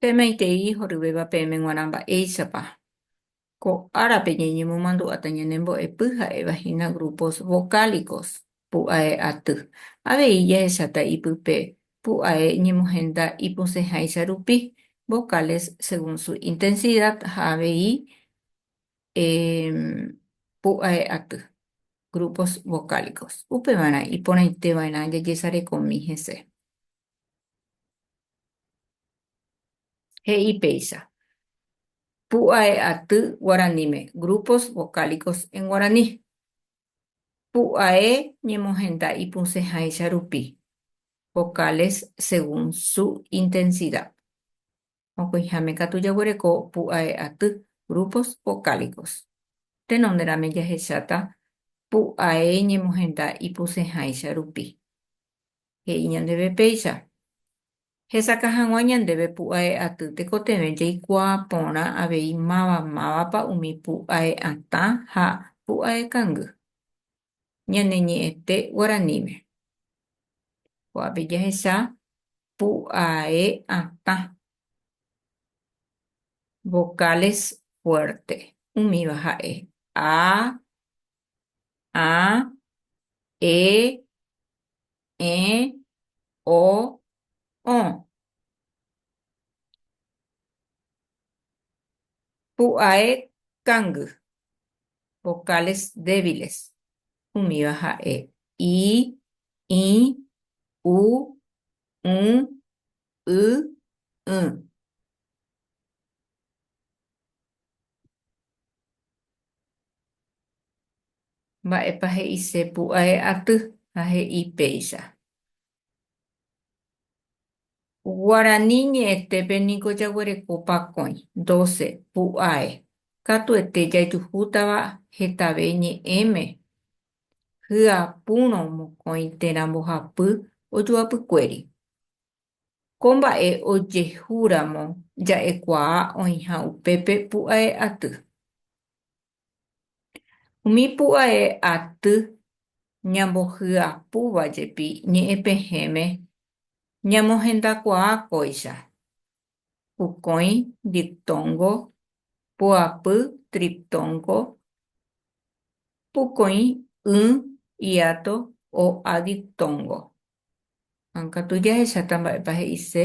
Pemaitei horyvéva peẽme g̃uarã mba'éichapa ko árape ñañemomandu'áta ñanembo'epy ha'éva hína grupos vocálicos, pu'ae aty. Avei jahecháta ipype pu'ae ñemohenda ipusẽháicha rupi, vocales según su intensidad ha avei pu'ae aty, grupos vocálicos. Upevarã iporãite va'erã jajesarekomi hese. He'i péicha. Pu'ae aty guaraníme, grupos vocálicos en guaraní. Pu'ae ñemohenda ipusẽháicha rupi, vocales según su intensidad. Mokõiháme katu jaguereko pu'ae aty, grupos vocálicos. Tenonderãme jahecháta pu'ae ñemohenda ipusẽháicha rupi. He'i ñandéve péicha. Hesakã hag̃ua ñandéve pu'ae aty tekotevẽ jaikuaa porã avei máva mávapa umi pu'ae atã ha pu'ae kangy. ñane ñe'ẽte guaraníme. Ko'ápe jahecha pu'ae atã, vocales fuerte, umíva ha'e, a, ã, e, ẽ, o, õ. Pu'ae kangy. vocales débiles, umíva ha'e, i, ĩ, u, ũ, y, ỹ. Mba'épa he'ise pu'ae aty ha he'i péicha? Guarani ñe'ẽtépe niko jaguereko pakõi, doce, pu'ae, katuete jajuhútava hetave ñe'ẽme, hyapúrõ mokõi térã mbohapy ojoapykuéri. Ko mba'e ojehu ramo ja'ekuaa oĩha upépe pu'ae aty. Umi pu'ae aty ñambohyapúva jepi ñe'ẽpehẽme ñamohendakuaa kóicha, pukõi diptóngo, pu'apy triptóngo, pukõi y, hiato, o a diptóngo. Ha katu jahecháta mba'épa he'ise.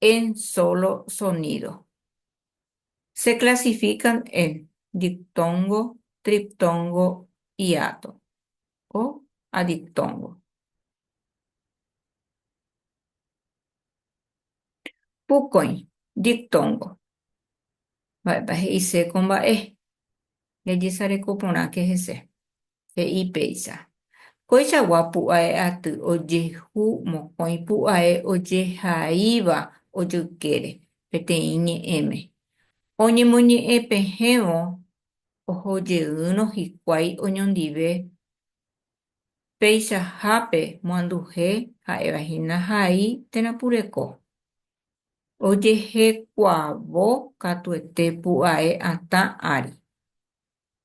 en solo sonido. Se clasifican en diptongo, triptongo, hiato o adiptongo. Pukõi, diptongo. Mba'épa he'ise ko mba'e? Jajesareko porãke hese. he'i péicha, Koichagua pu'ae aty ojehu mokõi pu'ae ojehaíva ojoykére peteĩ ñe'ẽme. Oñemoñe'ẽ pehẽvo ohojeýrõ hikuái oñondive peichahápe moanduhe ha'éva hína hai térã pureko. Ojehekuaavo katuete pu'ae atã ári.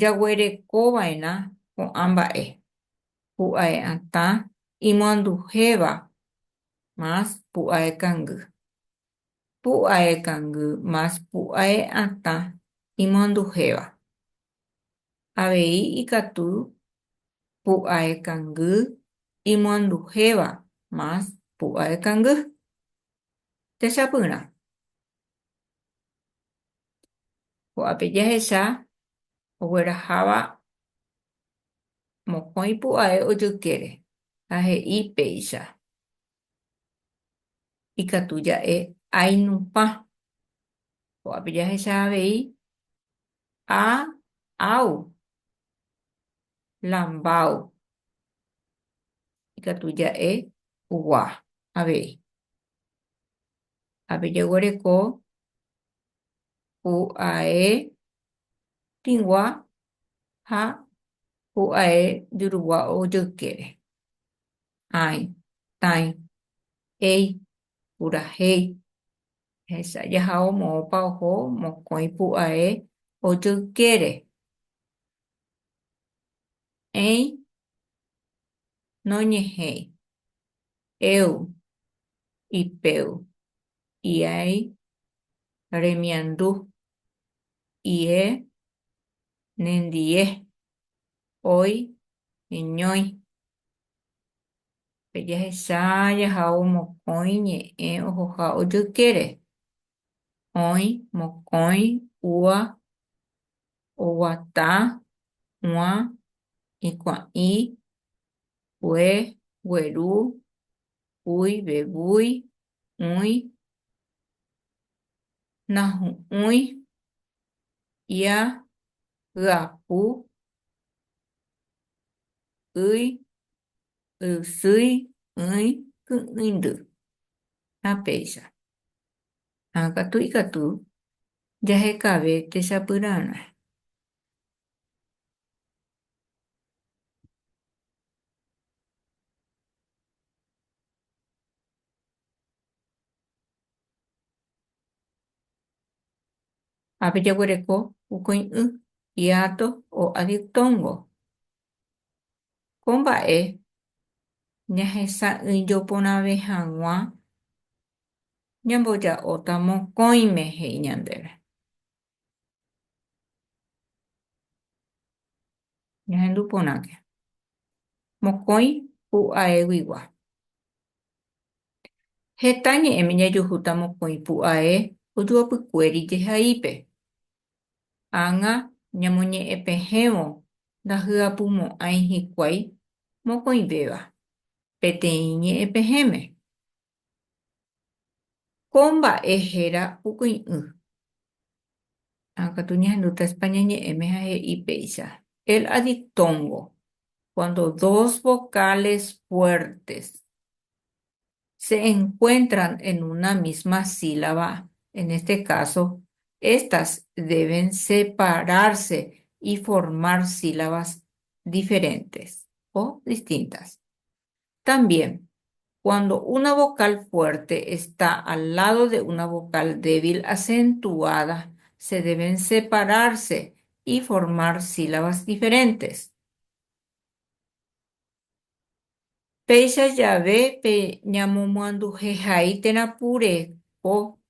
jaguerekova'erã ko'ã mba'e, pu'ae'atã imoanduhéva más pu'aekangy, pu'aekangy más pu'ae'atã imoanduhéva, avei ikatu pu'aekangy imoanduhéva más pu'aekangy. Techapyrã. Ko'ápe jahecha ogueraháva mokõi pu'ae ojykére ha he'i péicha, Ikatu ja'e ainupã. Ko'ápe jahecha avei A, Áu, la Mbáu. Ikatu ja'e gua avei. ha pejeguereko pu'ae tĩgua ha pu'ae jurugua ojoykére. Ãi, tãi, éi, purahéi. Ehesa jahao moõpa oho mokõi pu'ae ojoykére. Ẽi, noñehéi. Eu, ipeu, iái, remiandu, ie, nendie, oi, eñói. Pe jahecha jahao mokõi ñe'ẽ ohoha ojoykére, oĩ, mokõi, úa, oguata, uã, ikuã'i, Pue, gueru, púi, vevúi, ũi, nahu'ũi, ia, hyapu, ýi, ysýi, ỹi, ky'ỹindy ha péicha. Ha katu ikatu jahekave techapyrarã. Ha pejeguereko ukõi'ỹ hiato o adictóngo. Ko mba'e ñahesa'ỹijo porãve hag̃ua ñamboja'óta mokõime, he'i ñandéve. Ñahendu porãke. Mokõi pu'aéguigua. Heta ñe'ẽme jajuhúta mokõi pu'ae ojuapykuéri jehaípe. Ág̃a ñamoñe'ẽpehẽvo ndahyapumo'ãi hikuái mokõivéva peteĩ ñe'ẽpehẽme, Ko mba'e héra pu'y'ỹ. Katu ñahendúta España ñe'ẽme ha he'i péicha, el ha dictongo, cuando dos vocales fuertes se encuentran en una misma sílaba, en este caso, estas deben separarse y formar sílabas diferentes o distintas. También, cuando una vocal fuerte está al lado de una vocal débil acentuada, se deben separarse y formar sílabas diferentes. Péicha jave pe ñamomyanduhehai térã pure ko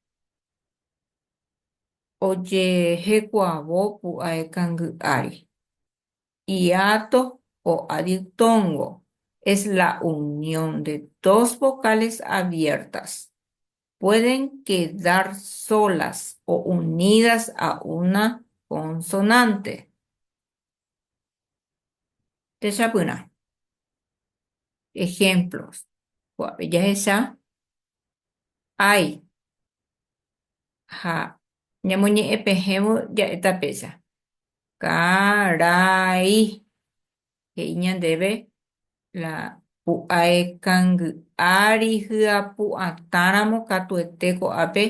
ojehekuavo pu'ae kangy ári. hiato o adiptóngo es la unión de dos vocales abiertas, pueden quedar solas o unidas a una consonante. Techapyrã. Ejemplos. Kuápe jahecha, Hay ha Ñamoñe'ẽ pehẽvo ja'e tapecha. Ka, ra, i. He'i ñandéve la pu'ae kangy'a ryhyapu'atãramo katuete ko'ápe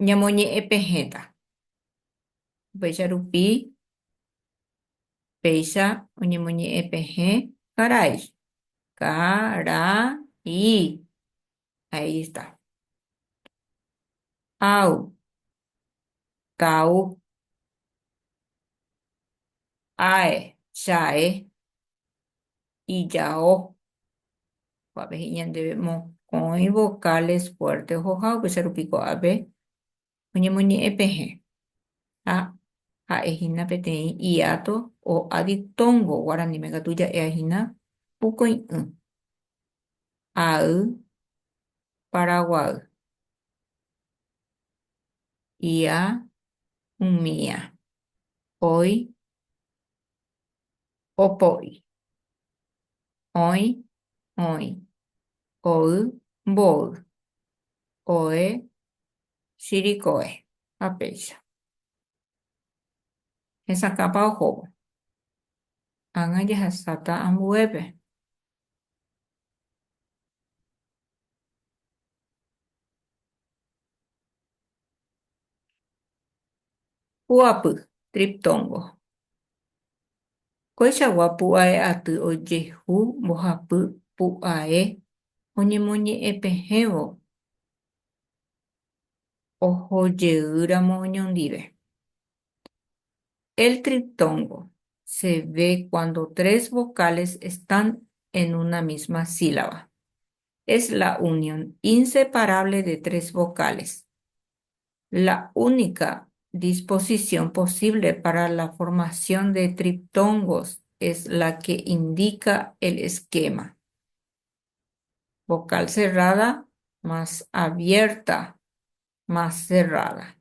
ñamoñe'ẽ pehẽta. Upéicha rupi péicha oñemoñe'ẽ pehẽ karai. Ka, ra, i. Ahí está. Au. Kau. Ae. Chae. Ijao. Kuape hi'ñandéve mokõi vocales fuerte ohoha upéicharupiko ápe oñemoñe'ẽ pehẽ, ha ha'e hína peteĩ hiato o'a diptóngo guaraníme katu ja'éa hína pukoi'ỹ, ay paraguay, ia umía, oy opo'i, oĩ oĩ, oy mboy, oe chirikoe ha péicha. Hesakãpa ohóvo. Ág̃a jahesáta ambuépe. Pu'apy, triptongo. Koichagua pu'ae aty ojehu mbohapy pu'ae oñemoñe'ẽpehẽvo ohojeýramo oñondive. El triptongo se ve cuando tres vocales están en una misma sílaba. Es la unión inseparable de tres vocales. la única disposición posible para la formación de triptongos es la que indica el esquema, vocal cerrada más abierta más cerrada.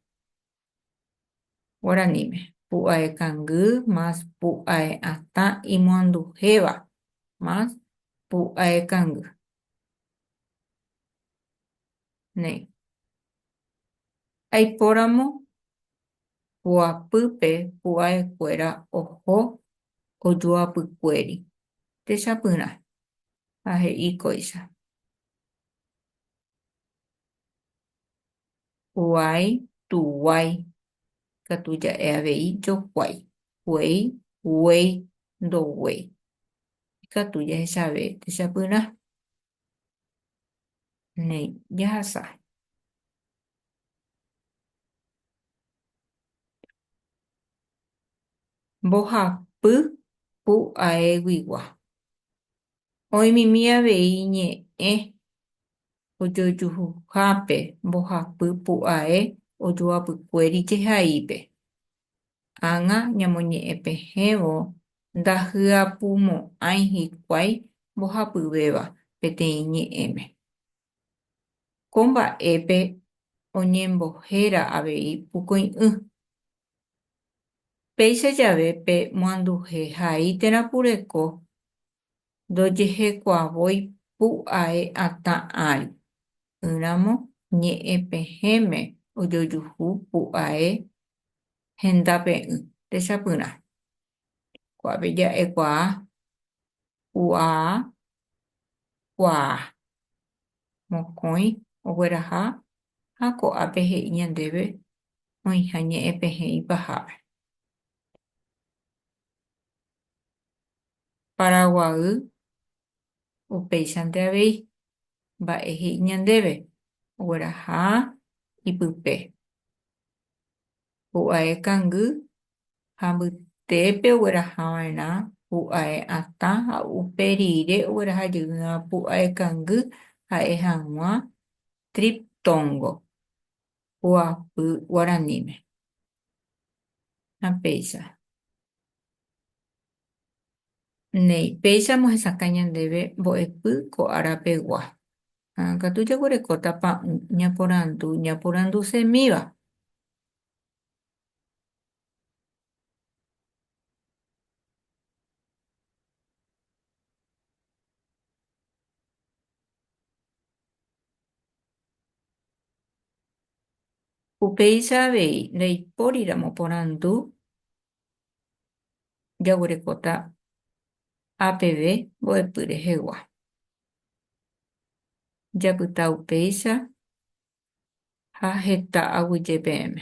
Guaraníme. Pu'ae kangy más pu'ae atã imoanduhéva más pu'ae kangy. néi. Aipóramo joapýpe pu'aekuéra oho ojoapykuéri techapyrã ha he'i kóicha, Pu'ái tuguái katu ja'e avei jokuái, guéi guéi ndoguéi. Ikatu jahechave techapyrã. Néi, jahasa. Mbohapy pu aéguigua. Oĩmimi avei ñe'ẽ ojojuhuhápe mbohapy pu ae ojoapykuéri jehaípe. Ág̃a ñamoñe'ẽ pehẽvo ndahyapumo'ãi hikuái mbohapyvéva peteĩ ñe'ẽme. Ko mba'épe oñembohéra avei pukõi'ỹ. Péicha jave pe moanduhe haí térã kureko ndojehekuavoi pu'ae atã ári, ỹramo ñe'ẽ pehẽme ojojuhu pu'ae henda pe'ỹ, techapyrã. Kuápe ja'ekuaa pu'aa kuaa, mokõi ogueraha ha ko'ápe he'i ñandéve oĩha ñe'ẽ pehẽ ipahápe. Paraguaýy upéichante avei mba'e he'i ñandéve ogueraha ipype. Pu'ae kangy ha mbytépe oguerahava'erã pu'ae atã ha upe rire ogueraha jeýva pu'ae kangy ha'e hag̃ua triptongo, pu'apy guaraníme. Ha péicha. Néi, péichamo hesakã ñandéve mbo'epy ko ára pegua. Ha katu jaguerekóta pa'ũ ñaporandu ñaporandusemíva. Upéicha avei, ndaipóriramo porandu jaguerekóta APV mbo'epy rehegua. Japyta upéicha ha heta aguyje peẽme.